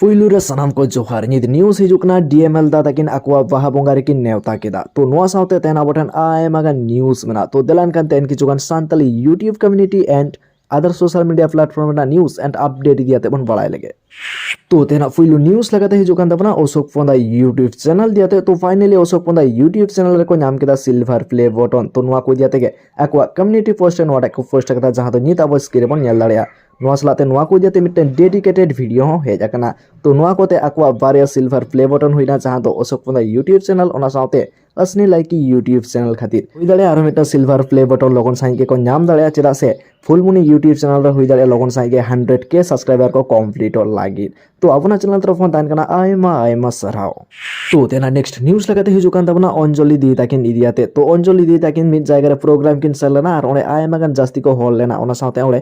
ᱯᱩᱭᱞᱩ ᱨᱮ ᱥᱟᱱᱟᱢ ᱠᱚ ᱡᱚᱦᱟᱨ ᱱᱤᱛ ᱱᱤᱭᱩᱡ ᱦᱤᱡᱩᱜ ᱠᱟᱱᱟ ᱰᱤᱮᱢᱮᱞ ᱫᱟ ᱛᱟᱹᱠᱤᱱ ᱟᱠᱚᱣᱟᱜ ᱵᱟᱦᱟ ᱵᱚᱸᱜᱟ ᱨᱮᱠᱤᱱ ᱱᱮᱣᱛᱟ ᱠᱮᱫᱟ ᱛᱚ ᱱᱚᱣᱟ ᱥᱟᱶᱛᱮ ᱛᱮᱦᱮᱧ ᱟᱵᱚ ᱴᱷᱮᱱ ᱟᱭᱢᱟ ᱜᱟᱱ ᱱᱤᱭᱩᱡ ᱢᱮᱱᱟᱜᱼᱟ ᱛᱚ ᱫᱮᱞᱟ ᱮᱱᱠᱷᱟᱱ ᱛᱮᱦᱮᱧ ᱠᱤᱪᱷᱩ ᱜᱟᱱ Santali YouTube community and other social media platform ᱨᱮᱱᱟᱜ ᱱᱤᱭᱩᱡ ᱮᱱᱰ ᱟᱯᱰᱮᱴ ᱤᱫᱤ ᱠᱟᱛᱮ ᱵᱚᱱ ᱵᱟᱲᱟᱭ ᱞᱮᱜᱮ ᱛᱚ ᱛᱮᱦᱮᱧᱟᱜ ᱯᱩᱭᱞᱩ ᱱᱤᱭᱩᱡ ᱞᱮᱠᱟᱛᱮ ᱦᱤᱡᱩᱜ ᱠᱟᱱ ᱛᱟᱵᱚᱱᱟ ᱚᱥᱳᱠ ᱯᱚᱱᱫᱟ ᱭᱩᱴᱤᱭᱩᱵᱽ ᱪᱮᱱᱮᱞ ᱤᱫᱤ ᱠᱟᱛᱮ ᱛᱚ finally Ashok Panda YouTube channel ᱨᱮᱠᱚ ᱧᱟᱢ ᱠᱮᱫᱟ ᱥᱤᱞᱵᱷᱟᱨ ᱯᱞᱮ ᱵᱚᱴᱚᱱ ᱛᱚ ᱱᱚᱣᱟ ᱠᱚ ᱤᱫᱤ ᱠᱟᱛᱮ ᱜᱮ ᱟᱠᱚᱣᱟᱜ ᱠᱚᱢᱤᱭᱩᱱᱤᱴᱤ ᱯᱳᱥᱴ ᱨᱮ ᱱᱚᱣᱟᱴᱟᱜ ᱠᱚ ᱯᱳᱥᱴ ᱟᱠᱟᱫᱟ ᱡᱟᱦᱟᱸ ᱫᱚ ᱱᱤᱛ ᱟᱵᱚ ᱥᱠᱨᱤᱱ ᱨᱮᱵᱚᱱ ᱧᱮᱞ ᱫᱟᱲᱮᱭᱟᱜᱼᱟ ᱱᱚᱣᱟ ᱥᱟᱞᱟᱜ ᱛᱮ ᱱᱚᱣᱟ ᱠᱚ ᱤᱫᱤ ᱠᱟᱛᱮ ᱢᱤᱫᱴᱮᱱ ᱰᱮᱰᱤᱠᱮᱴᱮᱰ ᱵᱷᱤᱰᱤᱭᱳ ᱦᱚᱸ ᱦᱮᱡ ᱟᱠᱟᱱᱟ ᱛᱚ ᱱᱚᱣᱟ ᱠᱚᱛᱮ ᱟᱠᱚᱣᱟᱜ ᱵᱟᱨᱭᱟ ᱥᱤᱞᱵᱷᱟᱨ ᱯᱞᱮ ᱵᱚᱴᱚᱱ ᱦᱩᱭᱱᱟ ᱡᱟᱦᱟᱸ ᱫᱚ ᱚᱥᱳᱠ ᱯᱚᱱᱫᱟ ᱭᱩᱴᱤᱭᱩᱵ ᱪᱮᱱᱮᱞ ᱚᱱᱟ ᱥᱟᱶᱛᱮ ᱟᱥᱱᱤ ᱞᱟᱭᱠᱤ ᱭᱩᱴᱤᱭᱩᱵ ᱪᱮᱱᱮᱞ ᱠᱷᱟᱹᱛᱤᱨ ᱦᱩᱭ ᱫᱟᱲᱮᱭᱟᱜᱼᱟ ᱟᱨᱦᱚᱸ ᱢᱤᱫᱴᱟᱝ ᱥᱤᱞᱵᱷᱟᱨ ᱯᱞᱮ ᱵᱚᱴᱚᱱ ᱞᱚᱜᱚᱱ ᱥᱟᱺᱦᱤᱡ ᱜᱮᱠᱚ ᱧᱟᱢ ᱫᱟᱲᱮᱭᱟᱜᱼᱟ ᱪᱮᱫᱟᱜ ᱥᱮ ᱯᱷᱩᱞᱢᱩᱱᱤ ᱭᱩᱴᱤᱭᱩᱵ ᱪᱮᱱᱮᱞ ᱨᱮ ᱦᱩᱭ ᱫᱟᱲᱮᱭᱟᱜᱼᱟ ᱞᱚᱜᱚᱱ ᱥᱟᱺᱦᱤᱡ ᱜᱮ ᱦᱟᱱᱰᱨᱮᱰ ᱠᱮ ᱥᱟᱵᱥᱠᱨᱟᱭᱵᱟᱨ ᱠᱚ ᱠᱚᱢᱯᱞᱤᱴᱚᱜ ᱞᱟᱹᱜᱤᱫ ᱛᱚ ᱟᱵᱚᱱᱟᱜ ᱪᱮᱱᱮᱞ ᱛᱚᱨᱚᱯ ᱠᱷᱚᱱ ᱛᱟᱦᱮᱱ ᱠᱟᱱᱟ ᱟᱭᱢᱟ ᱟᱭᱢᱟ ᱥᱟᱨᱦᱟᱣ ᱛᱚ ᱛᱮᱱᱟ ᱱᱮᱠᱥᱴ ᱱᱤᱭᱩᱡ ᱞᱮᱠᱟᱛᱮ ᱦᱤᱡᱩᱜ ᱠᱟᱱ ᱛᱟᱵᱚᱱᱟ ᱚᱧᱡᱚᱞᱤ ᱫᱤᱫᱤ ᱛᱟᱹᱠᱤᱱ ᱤᱫᱤ ᱠᱟᱛᱮ ᱛᱚ ᱚᱧᱡᱚᱞᱤ ᱫᱤᱫᱤ ᱛᱟᱹᱠᱤᱱ ᱢᱤᱫ ᱡᱟᱭᱜᱟ ᱨᱮ ᱯᱨᱳᱜᱨᱟᱢ ᱠᱤᱱ ᱥᱮᱱ ᱞᱮᱱᱟ ᱟᱨ ᱚᱸᱰᱮ ᱟᱭᱢᱟ ᱜᱟᱱ ᱡᱟᱹᱥᱛᱤ ᱠᱚ ᱦᱚᱲ ᱞᱮᱱᱟ ᱚᱱᱟ ᱥᱟᱶᱛᱮ ᱚᱸᱰᱮ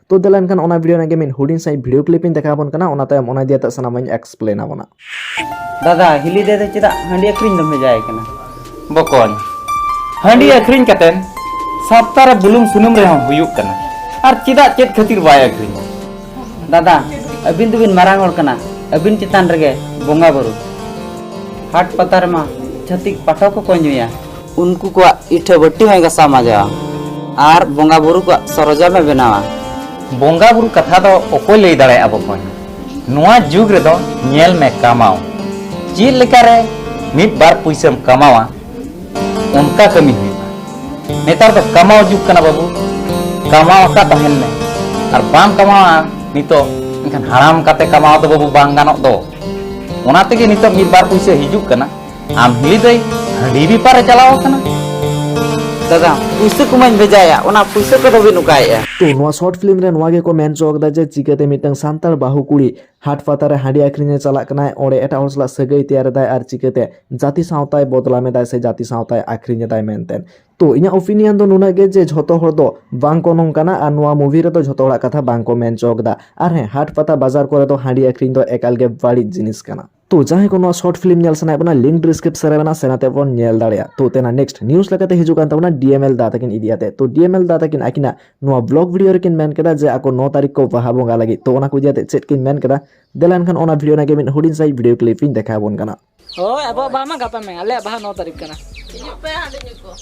ᱛᱚ ᱫᱮᱞᱟ ᱮᱱᱠᱷᱟᱱ ᱚᱱᱟ ᱵᱷᱤᱰᱤᱭᱳ ᱨᱮᱱᱟᱜ ᱜᱮ ᱢᱤᱫ ᱦᱩᱰᱤᱧ ᱥᱟᱺᱦᱤᱡ ᱵᱷᱤᱰᱤᱭᱳ ᱠᱞᱤᱯ ᱤᱧ ᱫᱮᱠᱷᱟᱣ ᱟᱵᱚᱱ ᱠᱟᱱᱟ ᱚᱱᱟ ᱛᱟᱭᱚᱢ ᱚᱱᱟ ᱤᱫᱤ ᱠᱟᱛᱮ ᱥᱟᱱᱟᱢᱟᱜ ᱤᱧ ᱮᱠᱥᱯᱞᱮᱱ ᱟᱵᱚᱱᱟ ᱫᱟᱫᱟ ᱦᱤᱞᱤ ᱫᱮ ᱫᱚ ᱪᱮᱫᱟᱜ ᱦᱟᱺᱰᱤ ᱟᱹᱠᱷᱨᱤᱧ ᱫᱚᱢ ᱵᱷᱮᱡᱟᱭ ᱠᱟᱱᱟ ᱵᱚᱠᱚᱧ ᱦᱟᱺᱰᱤ ᱟᱹᱠᱷᱨᱤᱧ ᱠᱟᱛᱮᱱ ᱥᱟᱯᱛᱟ ᱨᱮ ᱵᱩᱞᱩᱝ ᱥᱩᱱᱩᱢ ᱨᱮᱦᱚᱸ ᱦᱩᱭᱩᱜ ᱠᱟᱱᱟ ᱟᱨ ᱪᱮᱫᱟᱜ ᱪᱮᱫ ᱠᱷᱟᱹᱛᱤᱨ ᱵᱟᱭ ᱟᱹᱠᱷᱨᱤᱧᱟ ᱫᱟᱫᱟ ᱟᱹᱵᱤᱱ ᱫᱚᱵᱤᱱ ᱢᱟᱨᱟᱝ ᱦᱚᱲ ᱠᱟᱱᱟ ᱟᱹᱵᱤᱱ ᱪᱮᱛᱟᱱ ᱨᱮᱜᱮ ᱵᱚᱸᱜᱟ ᱵᱩᱨᱩ ᱦᱟᱴ ᱯᱟᱛᱟ ᱨᱮᱢᱟ ᱪᱷᱟᱹᱛᱤᱠ ᱯᱟᱴᱷᱚᱠ ᱠᱚᱠᱚ ᱧᱩᱭᱟ ᱩᱱᱠᱩ ᱠᱚᱣᱟᱜ ᱤᱴᱷᱟᱹ ᱵᱟᱹᱴᱤ ᱦᱚᱸᱭ ᱜᱟᱥᱟᱣ ᱢᱟᱡᱟᱣᱟ ᱟᱨ ᱵᱚᱸᱜᱟ ᱵᱩᱨᱩ ᱠᱚᱣᱟᱜ ᱥᱚᱨᱚᱡᱟᱢ ᱮ ᱵᱮᱱᱟᱣᱟ ᱵᱚᱸᱜᱟ ᱵᱩᱨᱩ ᱠᱟᱛᱷᱟ ᱫᱚ ᱚᱠᱚᱭ ᱞᱟᱹᱭ ᱫᱟᱲᱮᱭᱟᱜᱼᱟ ᱵᱚᱠᱚᱧ ᱱᱚᱣᱟ ᱡᱩᱜᱽ ᱨᱮᱫᱚ ᱧᱮᱞ ᱢᱮ ᱠᱟᱢᱟᱣ ᱪᱮᱫ ᱞᱮᱠᱟᱨᱮ ᱢᱤᱫ ᱵᱟᱨ ᱯᱩᱭᱥᱟᱹᱢ ᱠᱟᱢᱟᱣᱟ ᱚᱱᱠᱟ ᱠᱟᱹᱢᱤ ᱦᱩᱭᱩᱜᱼᱟ ᱱᱮᱛᱟᱨ ᱫᱚ ᱠᱟᱢᱟᱣ ᱡᱩᱜᱽ ᱠᱟᱱᱟ ᱵᱟᱹᱵᱩ ᱠᱟᱢᱟᱣ ᱟᱠᱟᱫ ᱛᱟᱦᱮᱱ ᱢᱮ ᱟᱨ ᱵᱟᱢ ᱠᱟᱢᱟᱣᱟ ᱱᱤᱛᱚᱜ ᱮᱱᱠᱷᱟᱱ ᱦᱟᱲᱟᱢ ᱠᱟᱛᱮ ᱠᱟᱢᱟᱣ ᱫᱚ ᱵᱟᱹᱵᱩ ᱵᱟᱝ ᱜᱟᱱᱚᱜ ᱫᱚ ᱚᱱᱟ ᱛᱮᱜᱮ ᱱᱤᱛᱚᱜ ᱢᱤᱫ ᱵᱟᱨ ᱯᱩᱭᱥᱟᱹ ᱦᱤᱡᱩᱜ ᱠᱟᱱᱟ ᱟᱢ ᱦᱤᱞᱤ ᱫᱟᱹᱭ ᱦᱟᱺᱰᱤ ᱵᱮᱯᱟᱨᱮ ᱪᱟᱞᱟᱣ ᱟᱠᱟᱱᱟ ᱫᱟᱫᱟ ᱯᱩᱭᱥᱟᱹ ᱠᱚᱢᱟᱧ ᱵᱷᱮᱡᱟᱭᱟ ᱚᱱᱟ ᱯᱩᱭᱥᱟᱹ ᱠᱚᱫᱚ ᱵᱤᱱ ᱚᱠᱟᱭᱮᱜᱼᱟ ᱛᱚ ᱱᱚᱣᱟ ᱥᱚᱨᱴ ᱯᱷᱤᱞᱢ ᱨᱮ ᱱᱚᱣᱟ ᱜᱮᱠᱚ ᱢᱮᱱ ᱦᱚᱪᱚ ᱟᱠᱟᱫᱟ ᱡᱮ ᱪᱤᱠᱟᱹᱛᱮ ᱢᱤᱫᱴᱟᱝ ᱥᱟᱱᱛᱟᱲ ᱵᱟᱹᱦᱩ ᱠᱩᱲᱤ ᱦᱟᱴ ᱯᱟᱛᱟ ᱨᱮ ᱦᱟᱺᱰᱤ ᱟᱠᱷᱨᱤᱧ ᱮ ᱪᱟᱞᱟᱜ ᱠᱟᱱᱟᱭ ᱚᱸᱰᱮ ᱮᱴᱟᱜ ᱦᱚᱲ ᱥᱟᱞᱟᱜ ᱥᱟᱹᱜᱟᱹᱭ ᱛᱮᱭᱟᱨ ᱮᱫᱟᱭ ᱟᱨ ᱪᱤᱠᱟᱹᱛᱮ ᱡᱟᱹᱛᱤ ᱥᱟᱶᱛᱟᱭ ᱵᱚᱫᱞᱟᱢ ᱮᱫᱟᱭ ᱥᱮ ᱡᱟᱹᱛᱤ ᱥᱟᱶᱛᱟᱭ ᱟᱠᱷᱨᱤᱧ ᱮᱫᱟᱭ ᱢᱮᱱᱛᱮ ᱛᱚ ᱤᱧᱟᱹᱜ ᱚᱯᱤᱱᱤᱭᱚᱱ ᱫᱚ ᱱᱩᱱᱟᱹᱜ ᱜᱮ ᱡᱮ ᱡᱷᱚᱛᱚ ᱦᱚᱲ ᱫᱚ ᱵᱟᱝ ᱠᱚ ᱱᱚᱝᱠᱟᱱᱟ ᱟᱨ ᱱᱚᱣᱟ ᱢᱩᱵᱷᱤ ᱨᱮᱫᱚ ᱡᱷᱚᱛᱚ ᱦᱚᱲᱟᱜ ᱠᱟᱛᱷᱟ ᱵᱟᱝ ᱠᱚ ᱢᱮᱱ ᱦᱚᱪᱚ ᱟᱠᱟᱫᱟ ᱟᱨ ᱦᱮᱸ ᱦᱟᱴ ᱯᱟᱛᱟ ᱵᱟᱡᱟᱨ ᱠᱚᱨᱮ ᱫᱚ ᱦᱟᱺᱰᱤ ᱟᱠᱷᱨᱤᱧ ᱫᱚ ᱮᱠᱟᱞ ᱜᱮ ᱵᱟᱹᱲᱤᱡ ᱡᱤᱱᱤᱥ ᱠᱟᱱᱟ ᱛᱚ ᱡᱟᱦᱟᱸᱭ ᱠᱚ ᱱᱚᱣᱟ ᱥᱚᱨᱴ ᱯᱷᱤᱞᱢ ᱧᱮᱞ ᱥᱟᱱᱟᱭᱮᱫ ᱵᱚᱱᱟ ᱞᱤᱝᱠ ᱰᱤᱥᱠᱨᱤᱯᱥᱚᱱ ᱨᱮ ᱢᱮᱱᱟᱜᱼᱟ ᱥᱮᱱᱟᱛᱮ ᱵᱚᱱ ᱧᱮᱞ ᱫᱟᱲᱮᱭᱟᱜᱼᱟ ᱛᱚ ᱛᱮᱱᱟ ᱱᱮᱠᱥᱴ ᱱᱤᱭᱩᱡ ᱞᱮᱠᱟᱛᱮ ᱦᱤᱡᱩᱜ ᱠᱟᱱ ᱛᱟᱵᱚᱱᱟ ᱰᱤᱮᱢᱮᱞ ᱫᱟ ᱛᱟᱹᱠᱤᱱ ᱤᱫᱤ ᱠᱟᱛᱮ ᱛᱚ ᱰᱤᱮᱢᱮᱞ ᱫᱟ ᱛᱟᱹᱠᱤᱱ ᱟᱹᱠᱤᱱᱟᱜ ᱱᱚᱣᱟ ᱵᱞᱚᱜ ᱵᱷᱤᱰᱤᱭᱳ ᱨᱮᱠᱤᱱ ᱢᱮᱱ ᱠᱮᱫᱟ ᱡᱮ ᱟᱠᱚ ᱱᱚ ᱛᱟᱹᱨᱤᱠᱷ ᱠᱚ ᱵᱟᱦᱟ ᱵᱚᱸᱜᱟ ᱞᱟᱹᱜᱤᱫ ᱛᱚ ᱚᱱᱟ ᱠᱚ ᱤᱫᱤ ᱠᱟᱛᱮ ᱪᱮᱫ ᱠᱤᱱ ᱢᱮᱱ ᱠᱮᱫᱟ ᱫᱮᱞᱟ ᱮᱱᱠᱷᱟᱱ ᱚᱱᱟ ᱵᱷᱤᱰᱤᱭᱳ ᱨᱮᱱᱟᱜ ᱜᱮ ᱢᱤᱫ ᱦᱩᱰᱤᱧ ᱥᱟᱺᱦᱤᱡ ᱵᱷᱤᱰᱤᱭᱳ ᱠᱞᱤᱯ ᱤᱧ ᱫᱮᱠᱷᱟᱣ ᱟᱵᱚᱱ ᱠᱟᱱᱟ ᱦᱳᱭ ᱟᱵᱚᱣᱟᱜ ᱵᱟᱦᱟ ᱢᱟ ᱜᱟᱯᱟ ᱢᱮ ᱟᱞᱮᱭᱟᱜ ᱵᱟᱦᱟ ᱱᱚ ᱛᱟᱹᱨᱤᱠᱷ ᱠᱟᱱᱟ ᱦᱤᱡᱩᱜ ᱯᱮ ᱦᱟᱺᱰᱤ ᱧᱩ ᱠᱚ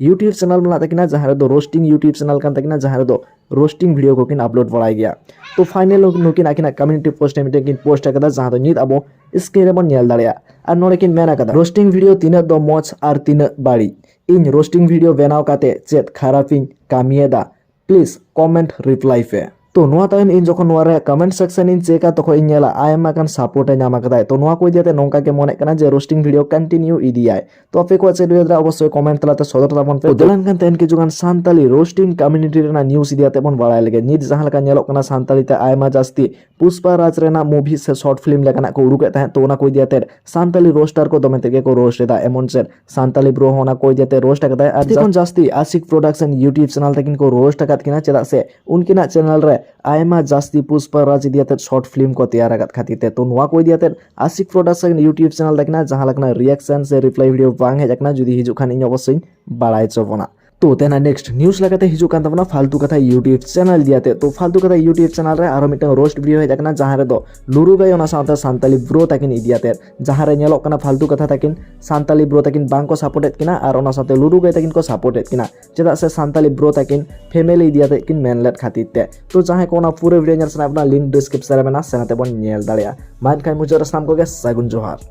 ᱤᱭᱩᱴᱤᱭᱩᱵᱽ ᱪᱮᱱᱮᱞ ᱢᱮᱱᱟᱜ ᱛᱟᱹᱠᱤᱱᱟ ᱡᱟᱦᱟᱸ ᱨᱮᱫᱚ ᱨᱳᱥᱴᱤᱝ ᱤᱭᱩᱴᱤᱭᱩᱵᱽ ᱪᱮᱱᱮᱞ ᱠᱟᱱ ᱛᱟᱹᱠᱤᱱᱟ ᱡᱟᱦᱟᱸ ᱨᱮᱫᱚ ᱨᱳᱥᱴᱤᱝ ᱵᱷᱤᱰᱤᱭᱳ ᱠᱚᱠᱤᱱ ᱟᱯᱞᱳᱰ ᱵᱟᱲᱟᱭ ᱜᱮᱭᱟ ᱛᱚ ᱯᱷᱟᱭᱱᱮᱞ ᱱᱩᱠᱤᱱ ᱟᱹᱠᱤᱱᱟᱜ ᱠᱚᱢᱤᱭᱩᱱᱤᱴᱤ ᱯᱳᱥᱴ ᱨᱮ ᱢᱤᱫᱴᱮᱱ ᱠᱤᱱ ᱯᱳᱥᱴ ᱟᱠᱟᱫᱟ ᱡᱟᱦᱟᱸ ᱫᱚ ᱱᱤᱛ ᱟᱵᱚ ᱥᱠᱨᱤᱱ ᱨᱮᱵᱚᱱ ᱧᱮᱞ ᱫᱟᱲᱮᱭᱟᱜᱼᱟ ᱟᱨ ᱱᱚᱰᱮ ᱠᱤᱱ ᱢᱮᱱ ᱟᱠᱟᱫᱟ ᱨᱳᱥᱴᱤᱝ ᱵᱷᱤᱰᱤᱭᱳ ᱛᱤᱱᱟᱹᱜ ᱫᱚ ᱢᱚᱡᱽ ᱟᱨ ᱛᱤᱱᱟᱹᱜ ᱵᱟᱹᱲᱤᱡ ᱤᱧ ᱨᱳᱥᱴᱤᱝ ᱵᱷᱤᱰᱤᱭᱳ ᱵᱮᱱᱟᱣ ᱠᱟᱛᱮ ᱪᱮᱫ ᱠᱷᱟᱨᱟᱯᱤᱧ ᱠᱟᱹᱢᱤᱭᱮᱫᱟ ᱯᱞᱤᱡᱽ ᱠᱚᱢᱮᱱᱴ ᱨᱤᱯᱞᱟᱭ ᱯᱮ ᱛᱚ ᱱᱚᱣᱟ ᱛᱟᱭᱚᱢ ᱤᱧ ᱡᱚᱠᱷᱚᱱ ᱱᱚᱣᱟ ᱨᱮ ᱠᱚᱢᱮᱱᱴ ᱥᱮᱠᱥᱚᱱ ᱤᱧ ᱪᱮᱠᱟ ᱛᱚᱠᱷᱚᱱ ᱤᱧ ᱧᱮᱞᱟ ᱟᱭᱢᱟ ᱜᱟᱱ ᱥᱟᱯᱳᱨᱴ ᱮ ᱧᱟᱢ ᱟᱠᱟᱫᱟᱭ ᱛᱚ ᱱᱚᱣᱟ ᱠᱚ ᱤᱫᱤᱭᱟᱛᱮ ᱱᱚᱝᱠᱟ ᱜᱮ ᱢᱚᱱᱮᱜ ᱠᱟᱱᱟ ᱡᱮ ᱨᱳᱥᱴᱤᱝ ᱵᱷᱤᱰᱤᱭᱳ ᱠᱚᱱᱴᱤᱱᱤᱭᱩ ᱤᱫᱤᱭᱟᱭ ᱛᱚ ᱟᱯᱮ ᱠᱚᱣᱟᱜ ᱪᱮᱫ ᱩᱭᱦᱟᱹᱨ ᱚᱵᱚᱥᱥᱳᱭ ᱠᱚᱢᱮᱱᱴ ᱛᱟᱞᱟᱛᱮ ᱥᱚᱫᱚᱨ ᱛᱟᱵᱚᱱ ᱯᱮ ᱫᱮᱞᱟᱱ ᱠᱟᱱ ᱛᱟᱦᱮᱱ ᱠᱤᱪᱷᱩᱜᱟᱱ ᱥᱟᱱᱛᱟᱞᱤ ᱨᱳᱥᱴᱤᱝ ᱠᱚᱢᱤᱱᱤᱴᱤ ᱨᱮᱱᱟᱜ ᱱᱤᱭᱩᱡᱽ ᱤᱫᱤᱭᱟᱛᱮ ᱵᱚᱱ ᱵᱟᱲᱟᱭ ᱞᱮᱜᱮ ᱱᱤᱛ ᱡᱟᱦᱟᱸ ᱞᱮᱠᱟ ᱧᱮᱞᱚᱜ ᱠᱟᱱᱟ ᱥᱟᱱᱛᱟᱞᱤ ᱛᱮ ᱟᱭᱢᱟ ᱡᱟᱹᱥᱛᱤ ᱯᱩᱥᱯᱟ ᱨᱟᱡᱽ ᱨᱮᱱᱟᱜ ᱢᱩᱵᱷᱤ ᱥᱮ ᱥᱚᱨᱴ ᱯᱷᱤᱞᱢ ᱞᱮᱠᱟᱱᱟᱜ ᱠᱚ ᱩᱰᱩᱠᱮᱫ ᱛᱟᱦᱮᱸᱫ ᱛᱚ ᱚᱱᱟ ᱠᱚ ᱤᱫᱤ ᱟᱛᱮᱫ ᱥᱟᱱᱛᱟᱞᱤ ᱨᱳᱥᱴᱟᱨ ᱠᱚ ᱫᱚᱢᱮ ᱛᱮᱜᱮ ᱠᱚ ᱨᱳᱥᱴ ᱮᱫᱟ ᱮᱢᱚᱱ ᱪᱮᱫ ᱥᱟᱱᱛᱟᱞᱤ ᱵᱨᱳ ᱦᱚᱸ ᱚᱱᱟ ᱠᱚ ᱤᱫᱤ ᱟᱛᱮᱫ ᱨᱳᱥᱴ ᱟᱠᱟᱫᱟᱭ ᱟᱨ ᱡᱚᱠᱷᱚᱱ ᱡᱟᱹᱥᱛᱤ ᱟᱥᱤᱠ ᱯᱨᱚᱰᱟᱠᱥᱚᱱ ᱤᱭᱩᱴᱤᱭᱩᱵᱽ ᱪᱮᱱᱟᱞ ᱛᱟᱹᱠᱤᱱ ᱠᱚ ᱨᱳᱥᱴ ᱟᱠᱟᱫ ᱠᱤᱱᱟ ᱪᱮᱫᱟᱜ ᱥᱮ ᱩᱱᱠᱤᱱᱟᱜ ᱪᱮᱱᱟᱞ ᱨᱮ ᱟᱭᱢᱟ ᱡᱟᱹᱥᱛᱤ ᱯᱩᱥᱯᱟ ᱨᱟᱡᱽ ᱤᱫᱤ ᱟᱛᱮᱫ ᱥᱚᱨᱴ ᱯᱷᱤᱞᱢ ᱠᱚ ᱛᱮᱭᱟᱨ ᱟᱠᱟᱫ ᱠᱷᱟᱹᱛᱤᱨ ᱛᱮ ᱛᱚ ᱱᱚᱣᱟ ᱠᱚ ᱤᱫᱤ ᱟᱛᱮᱫ ᱟᱥᱤᱠ ᱯᱨᱚᱰᱟᱠᱥᱚᱱ ᱤᱭᱩᱴᱤᱭᱩᱵᱽ ᱪᱮᱱᱟᱞ ᱛᱟᱹᱠᱤᱱᱟᱜ ᱡᱟᱦᱟᱸ ᱞᱮᱠᱟᱱᱟᱜ ᱨᱤᱭᱟᱠᱥᱚᱱ ᱥᱮ ᱨᱤᱯᱞᱟᱭ ᱵᱷᱤᱰᱤᱭᱳ ᱵᱟᱝ ᱦᱮᱡ ᱟᱠᱟᱱᱟ ᱡᱩᱫᱤ ᱦᱤᱡᱩᱜ ᱠᱷᱟᱱ ᱤᱧ ᱚᱵᱚᱥᱥᱳᱭ ᱵᱟᱲᱟᱭ ᱦᱚᱪᱚ ᱵᱚᱱᱟ ᱛᱚ ᱛᱮᱱᱟ ᱱᱮᱠᱥᱴ ᱱᱤᱭᱩᱡ ᱞᱮᱠᱟᱛᱮ ᱦᱤᱡᱩᱜ ᱠᱟᱱ ᱛᱟᱵᱚᱱᱟ ᱯᱷᱟᱞᱛᱩ ᱠᱟᱛᱷᱟ ᱭᱩᱴᱤᱭᱩᱵ ᱪᱮᱱᱮᱞ ᱫᱤᱭᱟᱛᱮ ᱛᱚ ᱯᱷᱟᱞᱛᱩ ᱠᱟᱛᱷᱟ ᱭᱩᱴᱤᱭᱩᱵ ᱪᱮᱱᱮᱞ ᱨᱮ ᱟᱨᱚ ᱢᱤᱫᱴᱟᱝ ᱨᱳᱥᱴ ᱵᱷᱤᱰᱤᱭᱳ ᱦᱮᱡ ᱟᱠᱟᱱᱟ ᱡᱟᱦᱟᱸ ᱨᱮᱫᱚ ᱞᱩᱨᱩ ᱜᱟᱭ ᱚᱱᱟ ᱥᱟᱶᱛᱮ ᱥᱟᱱᱛᱟᱞᱤ ᱵᱨᱳ ᱛᱟᱹᱠᱤᱱ ᱤᱫᱤᱭᱟᱛᱮ ᱡᱟᱦᱟᱸ ᱨᱮ ᱧᱮᱞᱚᱜ ᱠᱟᱱᱟ ᱯᱷᱟᱞᱛᱩ ᱠᱟᱛᱷᱟ ᱛᱟᱹᱠᱤᱱ ᱥᱟᱱᱛᱟᱞᱤ ᱵᱨᱳ ᱛᱟᱹᱠᱤᱱ ᱵᱟᱝ ᱠᱚ ᱥᱟᱯᱳᱨᱴ ᱮᱫ ᱠᱤᱱᱟ ᱟᱨ ᱚᱱᱟ ᱥᱟᱶᱛᱮ ᱞᱩᱨᱩ ᱜᱟᱭ ᱛᱟᱹᱠᱤᱱ ᱠᱚ ᱥᱟᱯᱳᱨᱴ ᱮᱫ ᱠᱤᱱᱟ ᱪᱮᱫᱟᱜ ᱥᱮ ᱥᱟᱱᱛᱟᱞᱤ ᱵᱨᱳ ᱛᱟᱹᱠᱤᱱ ᱯᱷᱮᱢᱮᱞᱤ ᱤᱫᱤᱭᱟᱛᱮ ᱠᱤᱱ ᱢᱮᱱ ᱞᱮᱫ ᱠᱷᱟᱹᱛᱤᱨ ᱛᱮ ᱛᱚ ᱡᱟᱦᱟᱸᱭ ᱠᱚ ᱚᱱᱟ ᱯᱩᱨᱟᱹ ᱵᱷᱤᱰᱤᱭᱳ ᱧᱮᱞ ᱥᱟᱱᱟᱭᱮᱫ ᱵᱚᱱᱟ ᱞᱤᱝᱠ ᱰᱤᱥᱠᱨᱤᱯᱥᱚᱱ ᱨᱮ ᱢᱮᱱᱟᱜᱼᱟ ᱥᱮᱱᱟᱛᱮ ᱵᱚᱱ ᱧᱮᱞ ᱫᱟᱲᱮᱭᱟᱜᱼᱟ ᱢᱟ ᱮᱱᱠᱷᱟᱱ ᱢᱩᱪᱟᱹᱫ ᱨᱮ ᱥᱟᱱᱟᱢ ᱠᱚᱜᱮ ᱥᱟᱹᱜᱩᱱ ᱡᱚᱦᱟᱨ